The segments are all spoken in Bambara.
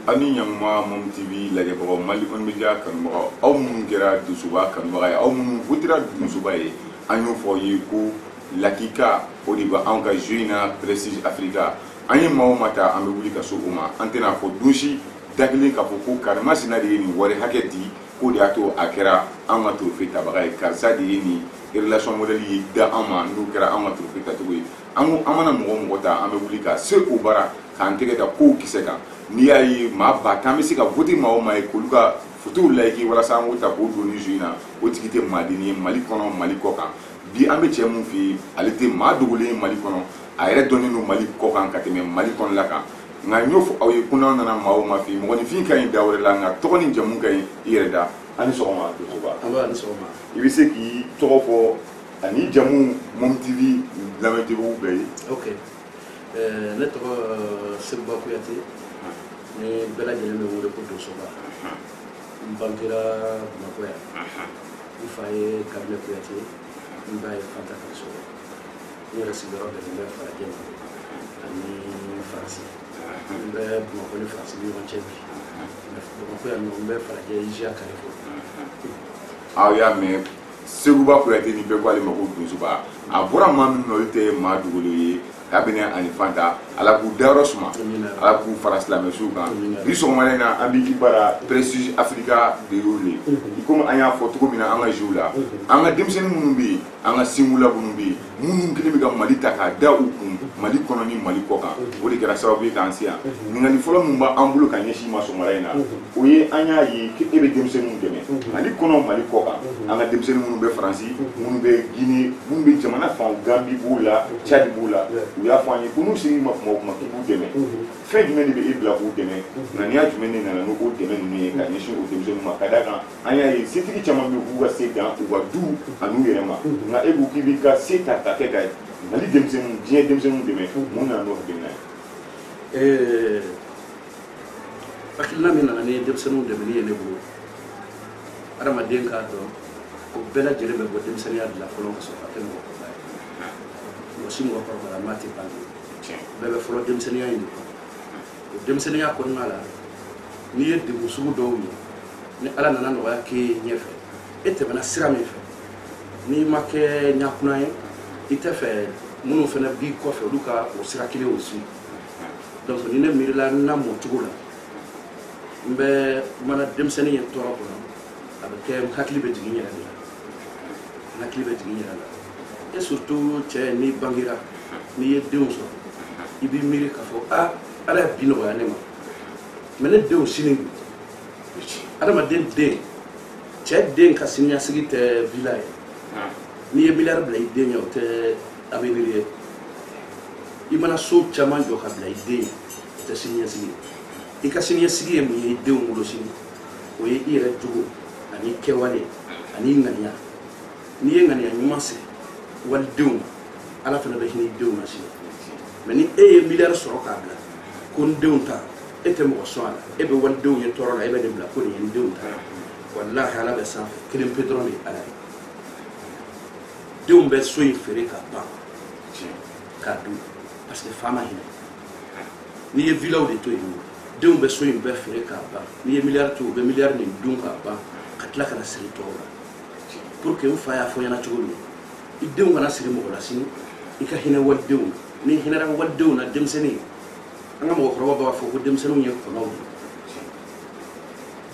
ani ɲanguma mom tv lajɛbagaw mali kɔni media kanubagaw aw minnu kɛra dosoba kanubaga ye aw minnu votera dosoba ye an y'o fɔ aw ye ko lakika o de bɛ anw ka jeu in na prestige africa an ye maa o maa ta an bɛ wuli ka se o ma an tɛna a fɔ don si da kelen k'a fɔ ko karimasina de ye nin wari hakɛ di k'o de y'a to a kɛra an ka trophée tabaga ye karisa de ye nin relation modèle ye da an ma n'o kɛra an ka trophée tacogo ye an mana mɔgɔ o mɔgɔ ta an bɛ wuli ka se o bara k'an tɛgɛ da kow kisɛ kan n'i y'a ye maa ba tan bɛ se ka vote maa o maa ye k'olu ka fotow layiki walasa an k'o ta k'o don nin jeu in na o tigi tɛ maaden ye mali kɔnɔ mali kɔ kan bi an bɛ cɛ min fɛ yen ale tɛ maa dogolen ye mali kɔnɔ a yɛrɛ dɔnnen don mali kɔ kan ka tɛmɛ mali kɔnɔla kan nka n y'o fɔ aw ye ko n'aw nana maa o maa fɛ yen mɔgɔninfin ka ɲi da wɛrɛ la nka tɔgɔ ni jamu ka ɲi i yɛrɛ da a ni sɔgɔma dosoba i bɛ se k'i tɔgɔ fɔ ani jamu mom tv lamɛntigiw bɛɛ ye ok eh, ne tɔgɔ eh, seguba kuyate ni bɛɛ lajɛlen bɛ n wele ko dosoba n bangera bamakɔ yan n fa ye kabinɛ kuyate n ba ye fanta kaso ne yɛrɛ sigiyɔrɔ bɛnnen bɛ falajɛ ma ani faransi n bɛ bamakɔ ni faransi ni ɲɔgɔn cɛ bi bamakɔ yan nɔ n bɛ falajɛ iziya carrefour aw y'a mɛn seguba kuyate ni bɛɛ ko ale ma ko dosoba a bɔra maa min na olu tɛ maa dogolen ye kabinɛ ani fanta ala k'u dayɔrɔ suma ala k'u fara silamɛ suw kan bi sɔgɔmada in na an bɛ i bara prestige africa de y'o le i komi an y'a fɔ cogo min na an ka jeu la an ka denmisɛnnin minnu bɛ yen an ka singula minnu bɛ yen minnu kɛlen bɛ ka mali ta k'a da u kun mali kɔnɔ ni mali kɔ kan o de kɛra sababu ye k'an se yan ɲininkali fɔlɔ min b'an bolo ka ɲɛsin i ma sɔgɔmada in na o ye an y'a ye e bɛ denmisɛnninw dɛmɛ mali kɔnɔ mali kɔ kan an ka denmisɛnnin minnu bɛ faransi minnu bɛ gine minnu bɛ jamana fan gambi b'u la cadi b'u la u y'a fɔ an ye ko n'u ser'i ma kuma o kuma k'i b'u dɛmɛ fɛn jumɛn de bɛ e bila k'u dɛmɛ ŋaniya jumɛn de nana n'o dɛmɛ ninnu ye ka ɲɛsin o denmisɛnninw ma ka d'a kan an y'a ye setigi caman bɛ k'u ka se dan u ka du an'u yɛrɛ ma nka e ko k'i b'i ka se ta ka kɛ ka mali denmisɛnninw diɲɛ denmisɛnninw dɛmɛ mun nana n'o hakilina ye hakilina min nana ni denmisɛnninw dɛmɛni ye ne bolo adamaden k'a dɔn ko bɛɛ lajɛlen bɛ bɔ denmisɛnninya de la fɔlɔ ka sɔrɔ ka kɛ mɔgɔkɔrɔba ye mɔgɔ si mɔgɔkɔrɔbalama tɛ bange bɛɛ bɛ fɔlɔ denmisɛnninya in de kɔnɔ o denmisɛnninya kɔnɔna la n'i ye degun sugu dɔw ye ni ala nana nɔgɔya k'e ye ɲɛfɛ e tɛmɛna sira min fɛ n'i ma kɛ ɲakuna ye i tɛ fɛ minnu fana b'i kɔfɛ olu ka o sira kelen o si donc ni ne miirila n namɔcogo la n bɛ mana denmisɛnnin ye tɔɔrɔ kɔnɔ a bɛ kɛ n hakili bɛ jigin n yɛrɛ de la n hakili bɛ jigin n yɛrɛ la et surtout cɛ n'i bangera n'i ye denw sɔrɔ i b'i miiri k'a fɔ a ala ye bi nɔgɔya ne ma mais ne denw sini adamaden den cɛ den ka siniɲasigi tɛ villa ye n'i ye miliyari bila i den ɲɛ o tɛ avenir ye i mana so caman jɔ ka bila i den o tɛ siniɲɛsigi ye i ka siniɲɛsigi ye mun ye i denw bolo sini o ye i yɛrɛ jogo ani i kɛwale ani i ŋaniya n'i ye ŋaniya ɲuman sigi walidenw ala fana bɛ hinɛ i denw na sini mais ni e ye miliyari sɔrɔ k'a bila ko n denw ta e tɛ mɔgɔ sɔn a la e bɛ walidenw ye tɔɔrɔ la e bɛ nin bila ko nin ye n denw ta walahi ala bɛ sanfɛ kelen pe dɔrɔn de ye ala ye denw bɛ so in feere ka ban k'a dun parce que fa ma hinɛ n'i ye villaw de to yen nɔ denw bɛ so in bɛɛ feere k'a ban n'i ye miliyari to u bɛ miliyari nin dun k'a ban ka tila ka na siri tɔw la pour que n fa y'a fɔ ɲɛna cogo min i denw kana siri mɔgɔ la sini i ka hinɛ walidenw na n'i hinɛra walidenw na denmisɛnnin an ka mɔgɔkɔrɔba b'a fɔ ko denmisɛnninw ye kɔnɔw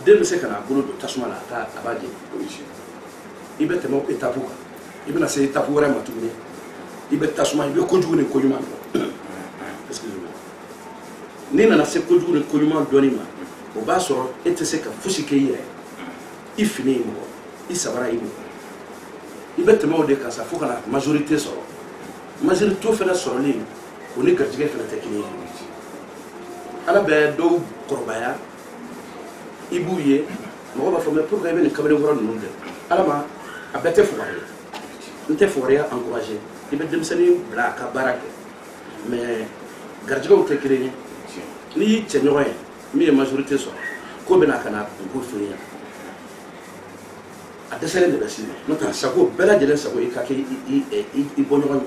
de den bɛ se ka n'a bolo don tasuma la a t'a a b'a jeni i bɛ tɛmɛ étape kan i bɛna se étape wɛrɛ ma tuguni i bɛ tasuma i bɛ kojugu ni koɲuman dɔn n'i nana se kojugu ni koɲuman dɔnni ma o b'a sɔrɔ e tɛ se ka fosi kɛ i yɛrɛ i fini y'i mɔgɔ i sabara y'i mɔgɔ i bɛ tɛmɛ o de kan sa fo ka na majorité sɔrɔ majorité fana sɔrɔlen kɔ ni garijɛgɛ fana tɛ kelen ye ala bɛ dɔw kɔrɔbaya i b'u ye mɔgɔ b'a fɔ mais pourquoi i bɛ nin kamalenkɔrɔ ninnu kɛ ala ma a bɛɛ tɛ fugari ye n tɛ fugariya encouragé i bɛ denmisɛnnin bila a ka baara kɛ mais garijɛgɛw tɛ kelen ye n'i y'i cɛɲɔgɔn ye min ye majorité sɔrɔ k'o bɛ na ka n'a kunko f'i ɲɛna a dɛsɛlen de bɛ s'i ma n'o tɛ sago bɛɛ lajɛlen sago i ka kɛ i bɔɲɔgɔn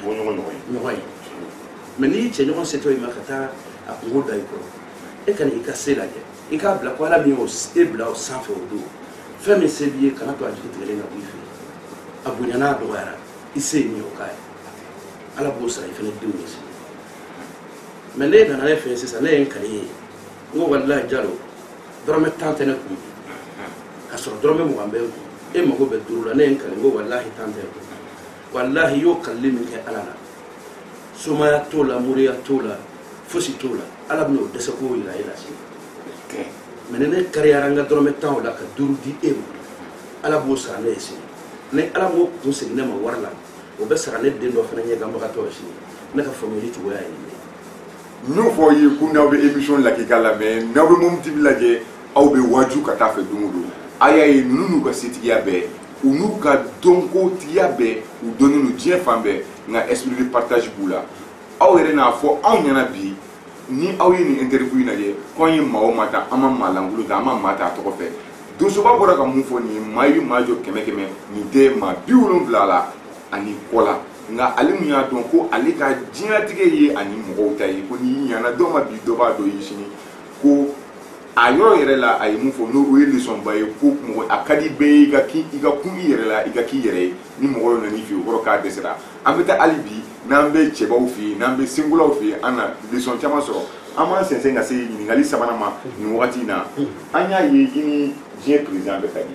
bɔɲɔgɔn ɲɔgɔn ye mais n'i cɛɲɔgɔn setɔ i ma ka taa a kunko da i kɔrɔ e kana i ka se lajɛ i k'a bila ko ala min y'o e bila o sanfɛ o don fɛn min se b'i ye kana to a jigi tigɛlen ka bɔ i fɛ a bonyana a dɔgɔyara i se ye min ye o k'a ye ala b'o sara i fana denw ye sini mais ne nana ne fɛ sisan ne ye n kali ye n ko walilahi jalo dɔrɔmɛ tan tɛ ne kun ka sɔrɔ dɔrɔmɛ mugan bɛ n kun e mago bɛ duuru la ne ye n kali n ko walahi tan tɛ n kun walahi i y'o kalili min kɛ ala la somaya t'o la moriya t'o la fosi t'o la ala bɛna o dɛsɛ k'o yira e la sini mɛ ni ne kariyara n ka dɔrɔmɛ tan o la ka duuru di e ma ala b'o sara ne ye sini ni ala m'o kun segin ne ma wari la o bɛ sara ne den dɔ fana ɲɛganbagatɔ ye sini ne ka faamuyali cogoya ye nin ye n y'o fɔ aw ye ko n'aw bɛ émission lajɛ k'a lamɛn n'aw bɛ momo tv lajɛ aw bɛ waaju ka taa fɛ don o don a y'a ye ninnu n'u ka setigiya bɛɛ u n'u ka dɔnkotigiya bɛɛ u dɔnnen don diɲɛ fan bɛɛ nka esprit de partage b'u la aw yɛrɛ n'a fɔ anw ɲɛna bi ni aw ye nin interview in lajɛ ko an ye maa o maa ta an ma maa lankolon ta an ma maa ta a tɔgɔ fɛ donsoba bɔra ka mun fɔ nin ye maa i bɛ maa jɔ kɛmɛ kɛmɛ nin tɛ maa bi wolonwula la ani kɔ la nka ale mun y'a dɔn ko ale ka diɲɛlatigɛ ye ani mɔgɔw ta ye ko n'i ɲana dɔ ma bi dɔ b'a dɔn i ye sini ko a yɔrɔ yɛrɛ la a ye mun fɔ n'o ye leçon ba ye ko mɔgɔ a ka di bɛɛ ye i ka k'i i ka kun i yɛrɛ la i ka k'i yɛrɛ ye ni mɔgɔ dɔ nan'i fɛ yen o kɔrɔ k'a dɛsɛra an bɛ taa hali bi n'an bɛ cɛbaw fɛ yen n'an bɛ senkolaw fɛ yen an na leçon caman sɔrɔ an b'an sɛnsɛn ka se ɲininkali sabanan ma nin wagati in na an y'a ye i ni diɲɛ président bɛɛ ka di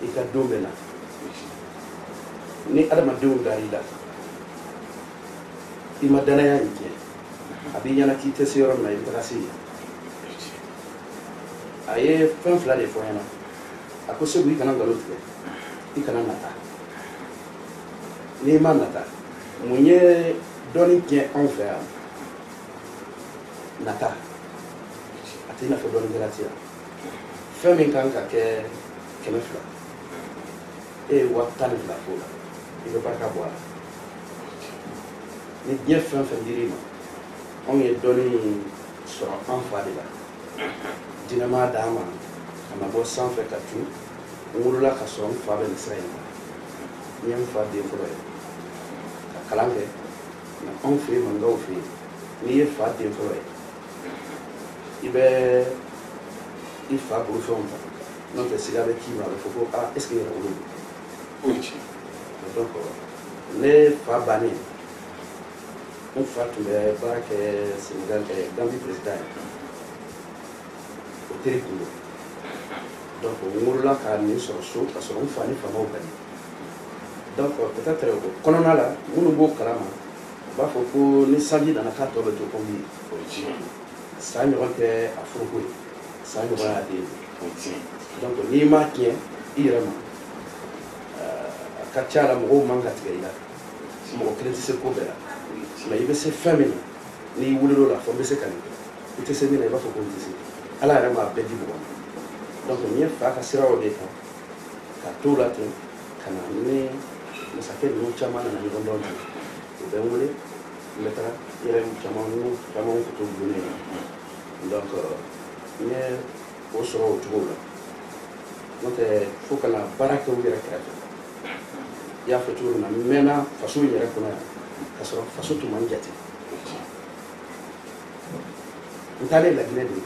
i ka don bɛ na ni adamadenw dar'i la i ma danaya in tiɲɛ a b'i ɲɛna k'i tɛ se yɔrɔ min na i bɛ taga se yen a ye fɛn fila de fɔ n ɲɛna a ko segu i kana nkalon tigɛ i kana nata n'i ma nata mun ye dɔnni tiɲɛ anw fɛ yan nata a tɛ i n'a fɔ dɔnnikɛla tɛ yan fɛn min kan ka kɛ kɛmɛ fila e ye waa tan ni fila f'o la i bɛ barika bɔ a la ni diɲɛ fɛn fɛn dir'i ma anw ye dɔnni sɔrɔ an fa de la jinɛ m'a d'an ma ka na bɔ sanfɛ katu n wolola ka sɔrɔ n fa bɛ nin sira in na n ye n fa den fɔlɔ ye ka kalan kɛ nka anw fɛ yen maninkaw fɛ yen n'i ye fa den fɔlɔ ye i bɛ i fa bolofɛnw ta n'o tɛ siga bɛ k'i ma a bɛ fɔ ko aa est ce que yɛrɛwolo don donc ne fa bannen n fa tun bɛ baara kɛ senegal ɛ gambi président ye o teri tun don donc n wolola ka nin sɔrɔ so ka sɔrɔ n fa ni faamaw ka di donc peut être o kɔnɔna la minnu b'o kalama u b'a fɔ ko ni sanji nana k'a tɔ bɛ to komi ye o ye tiɲɛ ye san ɲɔgɔn tɛ a foroko ye san ɲɔgɔn y'a den ye o ye tiɲɛ ye donc n'i m'a tiɲɛ i yɛrɛ ma a ka ca la mɔgɔw man ka tigɛ i la mɔgɔ kelen tɛ se ko bɛɛ la mais i bɛ se fɛn min na n'i wulil'o la fɔ n bɛ se ka nin kɛ i tɛ se min na i b'a fɔ ko n tɛ se ala yɛrɛ m'a bɛɛ di mɔgɔ ma donc n ye fa ka siraw de kan ka t'o la ten ka na ni masakɛ ninnu caman nana ɲɔgɔn dɔn na u bɛ n wele n bɛ taga yɔrɔ caman n'u caman kun t'u bolo ne na donc n ye o sɔrɔ o cogo la n'o tɛ fo ka na baara kɛ u yɛrɛ kɛrɛfɛ i y'a fɔ cogo min na n mɛnna faso in yɛrɛ kɔnɔ yan ka sɔrɔ faso tun ma n jate n taalen laginɛ de n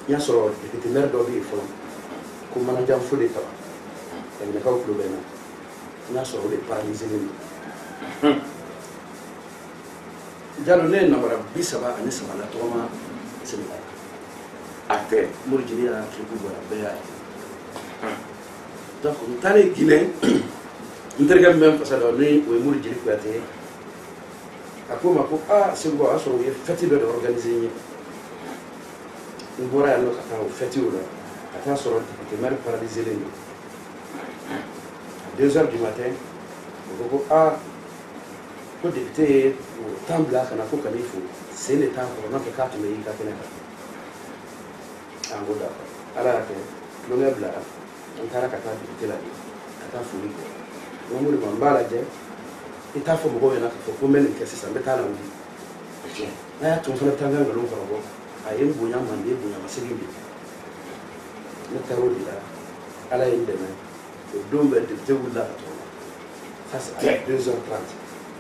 y'a sɔrɔ depitemɛri dɔ bɛ yen fɔlɔ ko manajan fode kaba laginɛkaw tulo bɛ n na n y'a sɔrɔ o de paralyselen don jalo ne ye nabara bi saba ani saba latɔgɔma senegal a tɛ mori jeli y'a kiriku bɔra bɛɛ y'a ye donc n taalen guinɛ n terikɛ min bɛ n fasa da ni o ye mori jeli kuyate ye a ko n ma ko aa segu o y'a sɔrɔ u ye fɛti dɔ de organise n ye n bɔra yan nɔ ka taa o fɛti o la ka taa sɔrɔ depitemɛri paraliselen don deux heures du matin u ko ko aa ko depite ye tan bila ka na ko ka n'i fo sen de t'a kɔrɔ n'o tɛ k'a tun bɛ y'i ka kɛnɛ kan an ko d'accord ala y'a kɛ tulonkɛ bilara an taara ka taa depite la de ka taa foli kɛ n ko moriba n b'a lajɛ i t'a fɔ mɔgɔw ɲɛna k'a fɔ ko n bɛ nin kɛ sisan n bɛ t'a lawuli n'a y'a to n fana bɛ taa n ka nkalon kɔrɔbɔ a ye n bonya manden bonya ma segin bi ne taara o de la ala ye n dɛmɛ o don bɛɛ depite wulila ka tɔgɔma ça c'est à 2 heures 30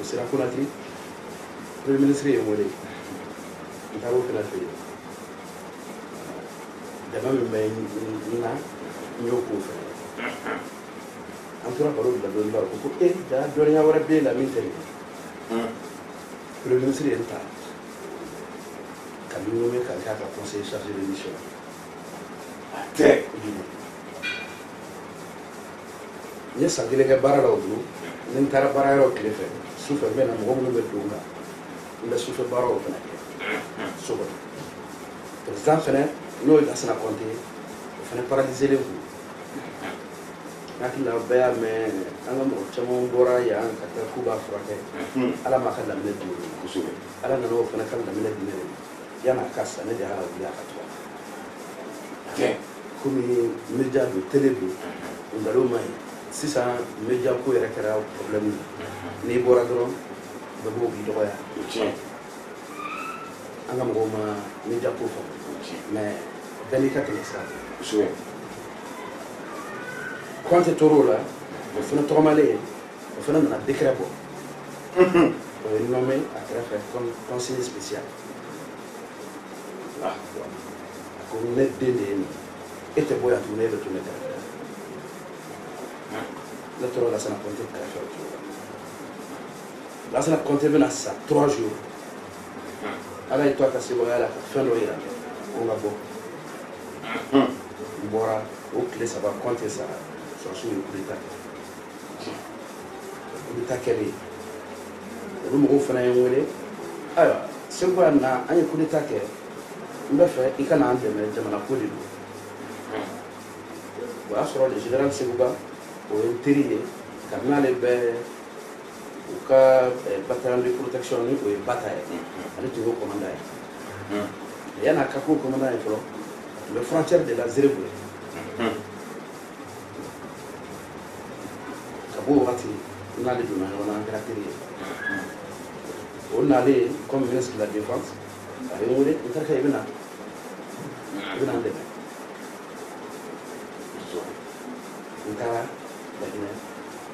o sera konakiri premier ministre ye n wele n taara o fana fɛ yen dɛmɛ min bɛ n na n y'o k'o fɛ an tora baro bila dɔɔni la o ko e jaa dɔnniya wɛrɛ b'e la min tɛ nin ye premier ministre ye n ta ka n nommé ka n k'a ka conseiller chargé de mission tɛ n ye san kelen kɛ baara la o don ni n taara baara yɔrɔ tile fɛ su fɛ n bɛ na mɔgɔ minnu bɛ don n kan n bɛ sufɛ baaraw fana kɛ so kɔnɔ perezan fana n'o ye lasana kɔnte ye o fana paralizelen don n hakili la bɛɛ y'a mɛn an ka mɔgɔ caman bɔra yan ka taa k'u b'a furakɛ ala m'a ka laminɛ di kosɛbɛ ala nana o fana ka laminɛ di ne de ma yan'a ka sa ne de y'a wuli a ka tɔgɔma komi media don tele don o nkalon ma ɲi sisan media ko yɛrɛ kɛra problème ye mhm. n'i bɔra dɔrɔn bɛɛ b'o k'i dɔgɔya an ka mɔgɔw ma media ko fɔ mais bɛɛ n'i ka tɛmɛ sira kosɛbɛ kɔnte tor'o la o fana tɔgɔmalen ye o fana nana décret bɔ o ye n nommé a kɛrɛfɛ comme conseiller spécial a ko ne den de ye nin e tɛ bɔ yan tuguni e bɛ to ne kɛrɛfɛ ne tora lasana kɔnte kɛrɛfɛ o cogo la lasana kɔnte bɛna sa trois jours ala y'i to a ka sebaaya la ka fɛn dɔ yira ko n ka bɔ n bɔra o tile saba kɔnte sara sɔrɔsiw ye coup d'état kɛ kudeta kɛlen olu mɔgɔw fana ye n wele ayiwa segin ka na an ye kudeta kɛ n b'a fɛ i ka na an dɛmɛ jamana ko de don o y'a sɔrɔ le général sekuba o ye n teri ye kabini ale bɛ u ka eh, bataillon de protection ni o ye bata ye ale tun y'o commandant ye yan'a ka k'o commandant ye fɔlɔ a tun bɛ frontière de la zerebu ye ka b'o wagati n n'ale donna ɲɔgɔn na an kɛra teri ye o nalen comme ministre de la défense a ye n wele n terikɛ i bɛ na i bɛ na n dɛmɛ n taara laginɛ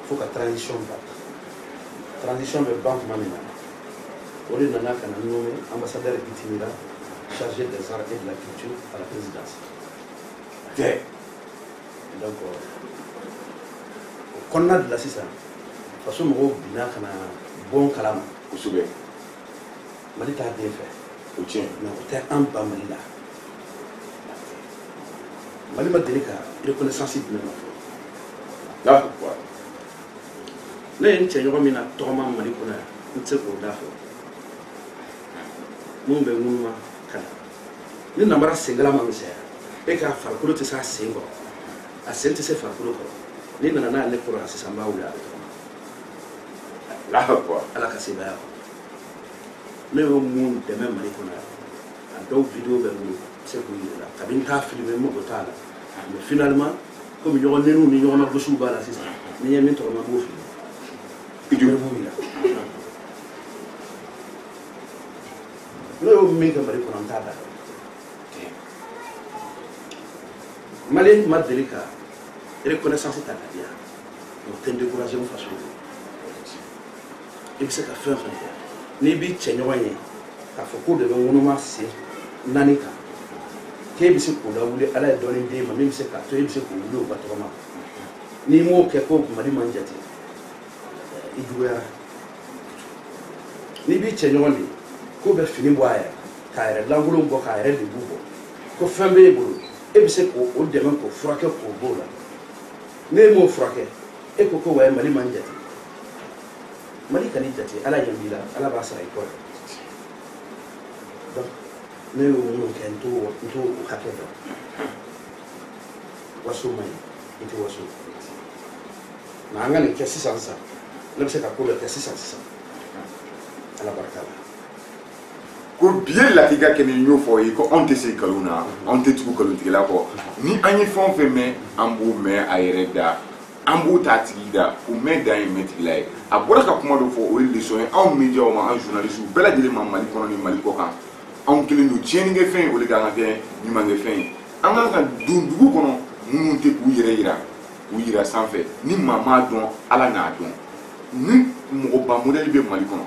fo ka transition ban transition bɛ ban tuma min na o de nana ka na n nommé ambassadeur itinérant chargé des arts et de la culture à la présidence donc o kɔnɔna de la sisan faso mɔgɔw binna ka na bɔ n kalama kosɛbɛ mali t'a den fɛ o tiɲɛ mais o tɛ an ban mali la mali ma deli ka reconnaissance di ne ma fɔlɔ ne ye n cɛ ɲɔgɔn min natɔgɔma mali kɔnɔ yan n tɛ se k'o da fɔ minnu bɛ ŋunuma ka na ni nabara senkala ma misɛya e k'a farikolo tɛ s'a sen kɔrɔ a sen tɛ se farikolo kɔrɔ n'i nana n'a ye ne kɔrɔ yan sisan n b'a wuli a bɛ tɔgɔma ala ka sebaaya kɔnɔ ne y'o min dɛmɛ mali kɔnɔ yan a dɔw video bɛ n bolo n bɛ se k'u yir'i la kabini n t'a filime n mago t'a la mais finalement komi ɲɔgɔn neniw ni ɲɔgɔn nagosiw b'a la sisan ni n ye min tɔgɔma n b'o filime ne b'o yira ne y'o min kɛ mali kɔnɔ n t'a da mali ma deli ka reconnaissance ta ka di yan o tɛ n découragé n faso i bɛ se ka fɛn fɛn kɛ n'i b'i cɛɲɔgɔn ye k'a fɔ k'o de bɛ ŋunuma sen naani kan k'e bɛ se k'o lawuli ala ye dɔɔni d'e ma min bɛ se k'a to e bɛ se k'o wuli o ka tɔgɔma n'i m'o kɛ ko mali ma n jate i juguyara n'i b'i cɛ ɲɔgɔn ye k'o bɛ fini bɔ a yɛrɛ k'a yɛrɛ lankolon bɔ k'a yɛrɛ lebu bɔ ko fɛn b'e bolo e bɛ se k'o dɛmɛ k'o furakɛ k'o b'o la n'e m'o furakɛ e ko ko wayi mali ma n jate mali kan'i jate ala ɲɛ b'i la ala b'a sara i kɔ donc ne y'o minnu kɛ n t'o hakɛ dɔn waso man ɲi i tɛ waso nka an ka nin kɛ sisan sisan ne bɛ se ka ko dɔ kɛ sisan sisan ala barika la ko biye latika kɛ nin y'o fɔ ye ko anw tɛ se nkalon na anw tɛ tugu nkalontigɛla kɔ ni an ye fɛn o fɛn mɛn an b'o mɛn a yɛrɛ da an b'o t'a tigi da o mɛn dan ye mɛtigila ye a bɔra ka kuma dɔ fɔ o ye leçon ye anw mediaw ma an journalisiw bɛɛ lajɛlen ma mali kɔnɔ ni mali kɔ kan anw kɛlen don tiɲɛnikɛ fɛn ye o de kan ka kɛ ɲumankɛ fɛn ye an kan ka don dugu kɔnɔ minnu tɛ k'u yɛrɛ yira k'u yira sanfɛ ni maa m'a dɔn ala n'a dɔn ni mɔgɔba modɛli bɛ mali kɔnɔ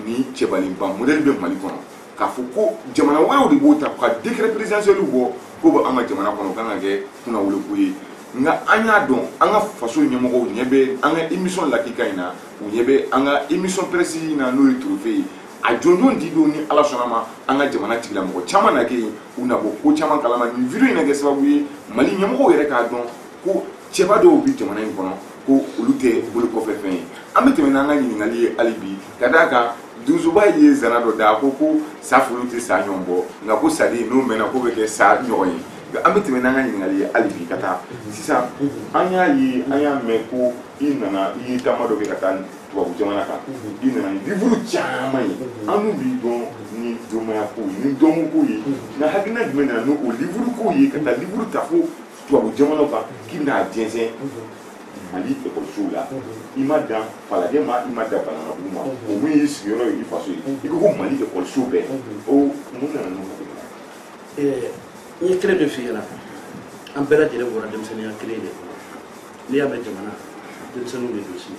ni cɛbalinba modɛli bɛ mali kɔnɔ k'a fɔ ko jamana wɛrɛw de b'o ta ka décret présidentiel bɔ k'o bɛ an ka jamana kɔnɔ o kan ka kɛ kunnawoloko ye nka an y'a dɔn an ka faso ɲɛmɔgɔw ɲɛ bɛ an ka émission lakika in na u ɲɛ bɛ an ka émission précise in na n'o ye trophée ye a jɔnjɔn di don ni ala sɔnna ma an ka jamana tigila mɔgɔ caman na kɛ yen u na bɔ ko caman kalama nin vidéo in na kɛ sababu ye mali ɲɛmɔgɔw yɛrɛ k'a dɔn ko cɛba dɔw bi jamana in kɔnɔ ko olu tɛ bolo kɔfɛ fɛn ye an bɛ tɛmɛ n'an ka ɲininkali ye hali bi ka d'a kan donsoba ye zana dɔ da ko ko sa folo tɛ sa ɲɔgɔn bɔ nka ko saden n'o mɛnna k'o bɛ kɛ sa ɲɔgɔn ye an bɛ tɛmɛ n'an ka ɲininkali ye hali bi ka taa sisan an y'a ye an y'a mɛn ko i nana i ye taama dɔ kɛ ka taa tubabu jamana kan i nana ni livuru caman ye annu b'i dɔn ni dɔnmaya kow ye ni dɔnko kow ye nka hakilina jumɛn nana n'o livuru ko ye ka taa livuru ta fo tubabu jamanaw kan k'i bɛna a jɛnsɛn mali ekɔlisow la i ma dan falajɛ ma i ma dan bananabugu ma o min y'i sigiyɔrɔ ye i faso ye i ko ko mali ekɔliso bɛɛ o mun nana n'o hakilina ye n ye kelen de f'i ɲɛna an bɛɛ lajɛlen bɔra denmisɛnninya kelen de kɔnɔ n'i y'a mɛn jamana denmisɛnninw de don si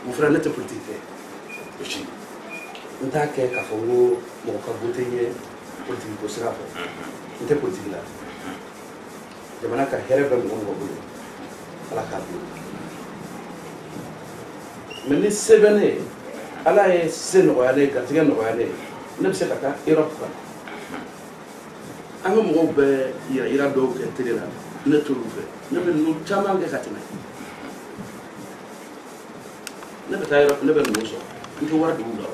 mon frère ne tɛ politiki kɛ aussi n t'a kɛ k'a fɔ n ko mɔgɔ ka wote n ye politiki ko sira fɛ n tɛ politiki la jamana ka hɛrɛ bɛ mɔgɔ o mɔgɔ bolo ala k'a don mɛ ni se bɛ ne ye ala ye se nɔgɔya ne ye garijɛgɛ nɔgɔya ne ye ne bɛ se ka taa erɔpu kan an ka mɔgɔw bɛ yɛrɛyira dɔw kɛ tele la ne t'olu fɛ ne bɛ ninnu caman kɛ ka tɛmɛ ne bɛ taa Europe ne bɛ ninnu sɔrɔ n tɛ wari don u la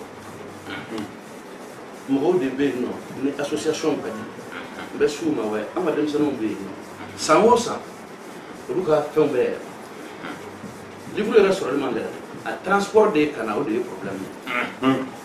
mɔgɔw de bɛ yen nɔ ni association ka di n bɛ s'u ma wa an ka denmisɛnninw bɛ yen nɔ san o san olu ka fɛnw bɛ yɛlɛma livre yɛrɛ sɔrɔli man gɛlɛn a transport de ye ka na o de ye problème ye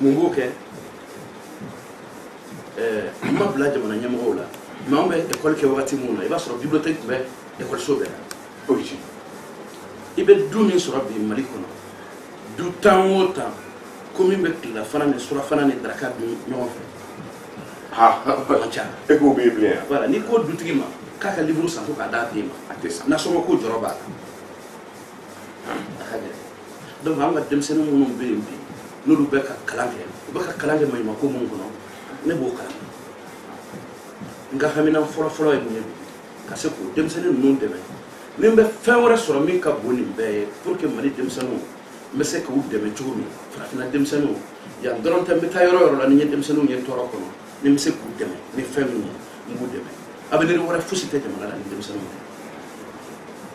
mun b'o kɛ n m'a bila jamana ɲɛmɔgɔw la mɛ anw bɛ ekɔli kɛ wagati min na i b'a sɔrɔ bibiliyotɛki tun bɛ ekɔliso bɛɛ la i bɛ du min sɔrɔ bi mali kɔnɔ du tan o tan ko min bɛ tilelafana ni surafana ni daraka dun ɲɔgɔn fɛ man ca e k'o bɛ yen bilen yan wala n'i ko dutigi ma k'a ka liburu san ko k'a d'a den ma a tɛ san nasɔngɔ ko jɔrɔ b'a la donc an ka denmisɛnnin minnu bɛ yen bi n'olu bɛ ka kalan kɛ u bɛ ka kalan kɛ maɲumako min kɔnɔ ne b'o kalama n ka haminan fɔlɔfɔlɔ ye mun ye ka se k'o denmisɛnnin ninnu dɛmɛ ni n bɛ fɛn wɛrɛ sɔrɔ min ka bon nin bɛɛ ye pour que mali denmisɛnninw n bɛ se k'u dɛmɛ cogo min farafinna denmisɛnninw yan dɔrɔn tɛ n bɛ taa yɔrɔ o yɔrɔ la ni n ye denmisɛnninw ye tɔɔrɔ kɔnɔ ni n bɛ se k'u dɛmɛ ni fɛn min ye n b'u dɛmɛ avenir wɛrɛ fosi tɛ jamana la ni denmisɛnninw tɛ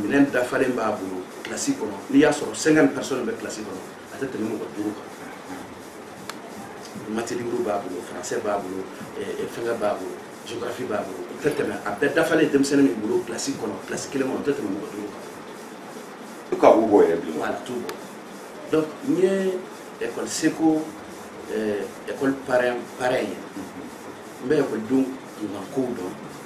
minɛn dafalen b'a bolo kilasi kɔnɔ n'i y'a sɔrɔ cinquante personnes bɛ kilasi kɔnɔ a tɛ tɛmɛ mɔgɔ duuru kan mati liburu b'a bolo faransɛ b'a bolo fɛngɛ b'a bolo géographie b'a bolo o tɛ tɛmɛ a bɛɛ dafalen denmisɛnnin min bolo kilasi kɔnɔ kilasi kelen kɔnɔ o tɛ tɛmɛ mɔgɔ duuru kan u ka u bɔ yɛrɛ bi voilà a t'o bɔ donc n ye école seko école parrain parrain ye n bɛ ekɔlidenw kunkankow dɔn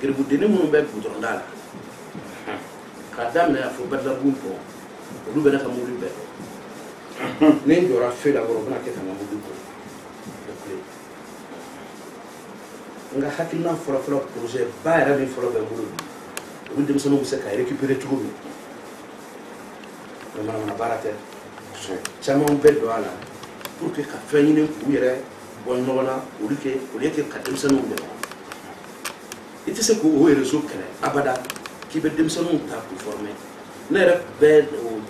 garibudennin minnu bɛ gudɔrɔnda la k'a daminɛ a fo badalabugu olu bɛ ne ka mobili bɛɛ dɔn ni n jɔra fe la kɔrɔ u bɛna kɛ ka n ka mobili boucler n ka hakilina fɔlɔfɔlɔ projet ba yɛrɛ min fɔlɔ bɛ n bolo bi olu denmisɛnninw bɛ se ka récupérer cogo min mɛ manamana baara tɛ caman bɛ don a la pour que ka fɛn ɲini k'u yɛrɛ bɔ ɲɔgɔn na olu kɛ olu kɛ ka denmisɛnninw dɛmɛ i tɛ se k'o o réseau kɛlɛ abada k'i bɛ denmisɛnninw ta k'u former ne yɛrɛ bɛ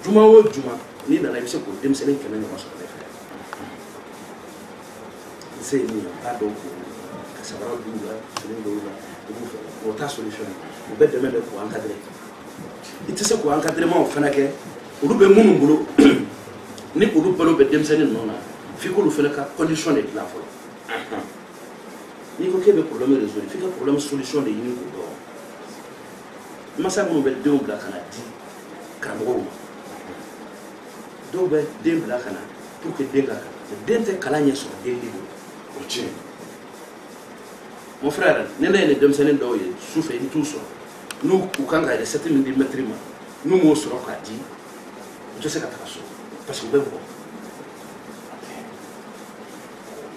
juma o juma n'i nana i bɛ se k'o denmisɛnnin kɛmɛ ɲɔgɔn sɔrɔ ne fɛ n se ye min ye n b'a dɔn k'o ka sabara d'u la fini d'u la u b'u fɛ o t'a solution ye u bɛ dɛmɛ de k'u encadrer i tɛ se k'o encadrement fana kɛ olu bɛ minnu bolo ni olu balo bɛ denmisɛnnin ninnu na f'i k'olu fana ka condition de dilan fɔlɔ n'i ko k'e bɛ problème résoudre f'i ka problème solution de ɲini k'o dɔn masa minnu bɛ denw bila ka na di karamɔgɔw ma dɔw bɛ den bila ka na pour que den ka kalan den tɛ kalan ɲɛ sɔrɔ den de bolo o tiɲɛ mon frère ne ne ye nin denmisɛnnin dɔw ye su fɛ i bɛ t'u sɔrɔ n'u u kan ka recette min di maître ma n'u m'o sɔrɔ k'a di u tɛ se ka taga so parce que u bɛ bugɔ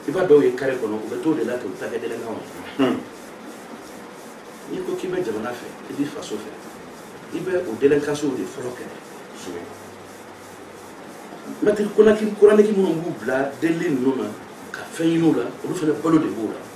i b'a dɔw ye kare kɔnɔ u bɛ t'o de la ka taa kɛ délinquantw ye n'i ko k'i bɛ jamana fɛ i b'i faso fɛ i bɛ o délinquance de fɔlɔ kɛlɛ maître coranique minnu b'u bila delili ninnu na ka fɛn ɲini u la olu fana balo de b'o la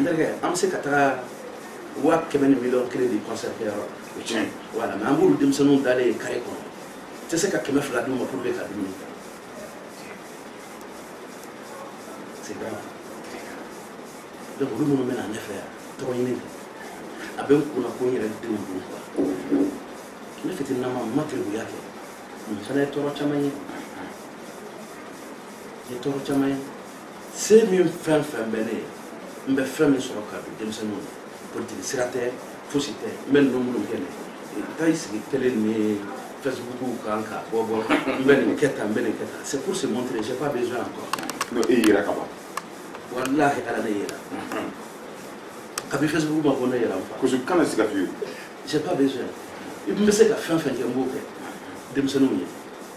n terikɛ an bɛ se ka taga waa kɛmɛ ni miliyɔn kelen di concert kɛ yɔrɔ o tiɲɛ voilà mais an b'olu denmisɛnninw dalen ye kare kɔnɔ tɛ se ka kɛmɛ fila d'u ma pour que ka dumuni kɛ c'est grave donc olu minnu bɛ na ne fɛ yan to ɲini kɛ a bɛ n kunna ko n yɛrɛ denw don quoi ne fitininama n ma garibuya kɛ n fana ye tɔɔrɔ caman ye n ye tɔɔrɔ caman ye se min fɛn fɛn bɛ ne ye n bɛ fɛn min sɔrɔ ka don denmisɛnninw na politiki sira tɛ fosi tɛ n bɛ ninnu minnu kɛ ne taa i sigi tele ni facebook kan ka bɔ bɔ n bɛ nin kɛ tan n bɛ nin kɛ tan c'est pour se montrer j'ai pas besoin encore n'o e yira ka ban walahi ala ne yira kabi facebook ma ko ne yira n fa parce que kana siga fiyewu j'ai pas besoin n bɛ se ka fɛn fɛn kɛ n b'o kɛ denmisɛnninw ye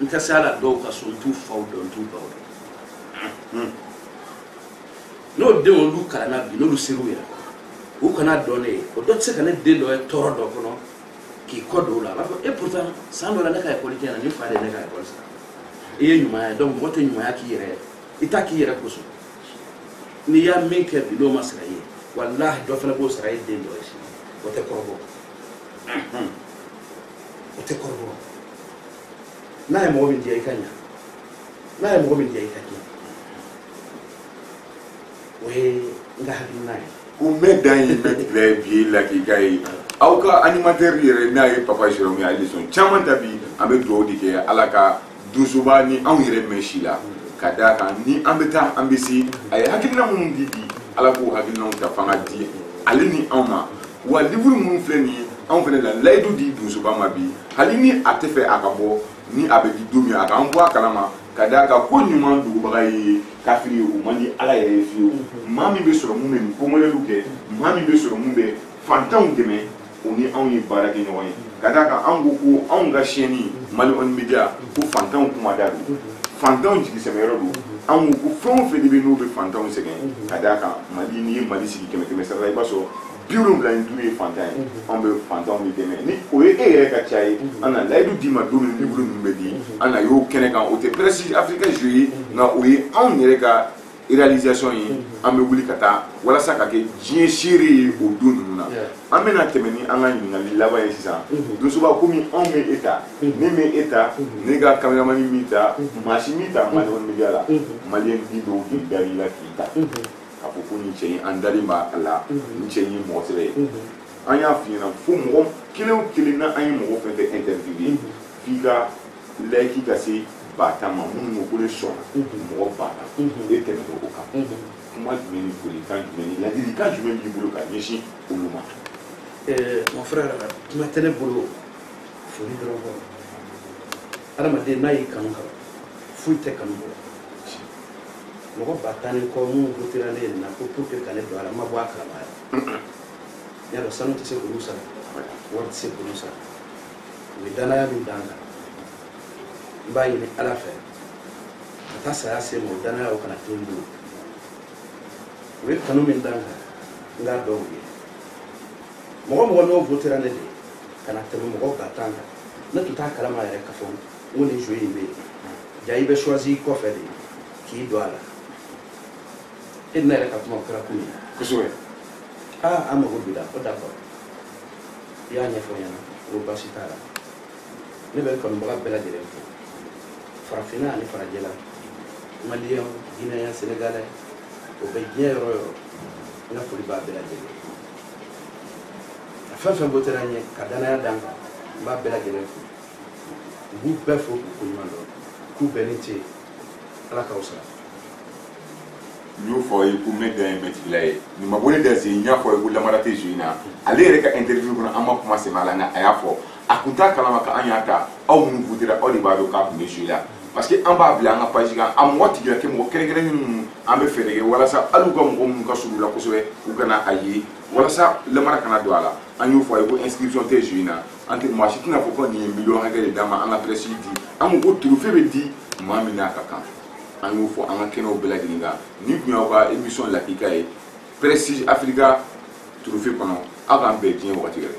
n tɛ se a la dɔw ka so n t'u faw dɔn n t'u baw dɔn n'o denw olu kalanna bi n'olu ser'u yɛrɛ kɔrɔ u kana dɔn ne ye o dɔ tɛ se ka ne den dɔ ye tɔɔrɔ dɔ kɔnɔ k'i kɔ don o la a b'a fɔ e pourtant san dɔ la ne ka ekɔli tiɲɛna nin fa de ye ne ka ekɔli sara o ye ɲumanya ye donc mɔgɔ tɛ ɲumanya k'i yɛrɛ ye i t'a k'i yɛrɛ kosɔn n'i y'a min kɛ bi n'o ma sara i ye walahi dɔ fana b'o sara i den dɔ ye sini o tɛ kɔrɔbɔ o tɛ kɔrɔbɔrɔ n'a ye mɔgɔ min diya i ka ɲa n'a ye mɔgɔ min diya i ka diya o ye n ka hakilina ye ko n bɛ dan ye n bɛ bila ye bi lakika ye aw ka animatɛri yɛrɛ n'a ye papa jérôme ye ale sɔn caman ta bi an bɛ dugawu de kɛ ala ka donsoba ni anw yɛrɛ mɛn si la ka d'a kan ni an bɛ taa an bɛ se a ye hakilina minnu di bi ala k'o hakilinaw ta fanga di ale ni anw ma wa livuru minnu filɛ nin ye anw fana la layidu di donsoba ma bi hali ni a tɛ fɛ a ka bɔ ni a bɛ di don min a k'an bɔ a kalama ka d'a kan koɲuman dogobaga ye kafiri ye o man di ala yɛrɛ ye fiyewu maa min bɛ sɔrɔ min bɛ nin ko mɔdɛliw kɛ maa min bɛ sɔrɔ min bɛ fantanw dɛmɛ o ni anw ye baara kɛ ɲɔgɔn ye ka d'a kan anw ko ko anw ka siyɛnni mali on media ko fantanw kuma da don fantanw jigisɛmɛyɔrɔ don anw ko ko fɛn o fɛn de bɛ n'o bɛ fantanw sɛgɛn ka d'a kan mali n'i ye mali sigi kɛmɛ kɛmɛ sara la i b'a sɔrɔ bi wolonwula ni duuru ye fantan ye an bɛ fantanw de dɛmɛ ni o ye e yɛrɛ ka ca ye an na layidu d'i ma don min liburu ninnu bɛ di an na y'o kɛnɛ kan o tɛ pɛrɛsi afirika jeu ye nka o ye anw yɛrɛ ka réalisation ye an bɛ wuli ka taa walasa ka kɛ diɲɛ seere ye o don ninnu na an bɛna tɛmɛ ni an ka ɲininkali laban ye sisan donsoba komi anw m'e ta ne m'e ta ne ka kameramani m'i ta maa si m'i ta mali on media la maliyɛn bi dɔw de dara i la k'i ta k'a fɔ ko nin cɛ in an dalen b'a la nin cɛ in ye mɔgɔ sɛbɛ ye an y'a f'i ɲɛna fo mɔgɔ kelen o kelen na an ye mɔgɔ fɛn fɛn interviewé f'i ka layiki ka se ba tan ma minnu ko ko ne sɔnna mɔgɔ ba tan e tɛmɛna o kan kuma jumɛn ni folikan jumɛn ni ladilikan jumɛn b'i bolo ka ɲɛsin olu ma mon frère kuma tɛ ne bolo foli dɔrɔn kɔ adamaden n'a y'i kanu kaban foyi tɛ kanu bɔ mɔgɔ ba tan ni kɔ minnu wotera ne nin na ko pour que ka ne don a la n ma bɔ a kalama yɛrɛ n y'a dɔn sanu tɛ se k'olu sara wari tɛ se k'olu sara u ye danaya min da n kan n b'a ɲini ala fɛ ka taa saya se n ma o danaya o kana to n bolo u ye kanu min da n kan n k'a dɔn u ye mɔgɔ mɔgɔ n'o wotera ne de ka na tɛmɛ mɔgɔ ba tan kan ne tun t'a kalama yɛrɛ k'a fɔ n ko nin jeu in bɛ yen jaa i bɛ choisi i kɔfɛ de k'i don a la e ni ne yɛrɛ ka kuma o kɛra kun min kosɛbɛ aa an mago b'i la ko d'accord i y'a ɲɛfɔ n ɲɛna ko baasi t'a la ne bɛ n kanubaga bɛɛ lajɛlen fo farafinna ani farajɛla maliyɛn ginɛyɛn senegalɛ o bɛ diɲɛ yɔrɔ yɔrɔ n ka foli b'a bɛɛ lajɛlen fɛn fɛn wotera n ye ka danaya da n kan n b'a bɛɛ lajɛlen fo n b'u bɛɛ fo k'u koɲuman dɔn k'u bɛɛ ni ce ala k'aw sara n y'o fɔ ye ko mɛ dan ye mɛtigila ye nin ma bɔ ne da sen n y'a fɔ ye ko namara tɛ jeu in na ale yɛrɛ ka interview kɔnɔ an ma kuma sɛmɛ a la nka a y'a fɔ a kun t'a kalama ka an y'a ta aw minnu votera aw de b'a dɔn k'a kun bɛ jeu la parce que an b'a bila an ka page kan a mɔgɔ tigila tɛ mɔgɔ kɛrɛnkɛrɛnnen ninnu an bɛ fɛɛrɛ kɛ walasa hali u ka mɔgɔ minnu ka surun u la kosɛbɛ u kana a ye walasa lamara kana don a la an y'o fɔ a ye ko inscription tɛ jeu in na an tɛ maa si tɛna fɔ ko nin ye miliyɔn hakɛ de d'an ma an ka presse di an ko ko trophée bɛ di maa min n'a ka kan an y'o fɔ an ka kɛnɛw bɛɛ lajɛlen kan nin tun y'aw ka émission lakika ye prestige africa trophée kɔnɔ aw k'an bɛn diɲɛ wagati wɛrɛ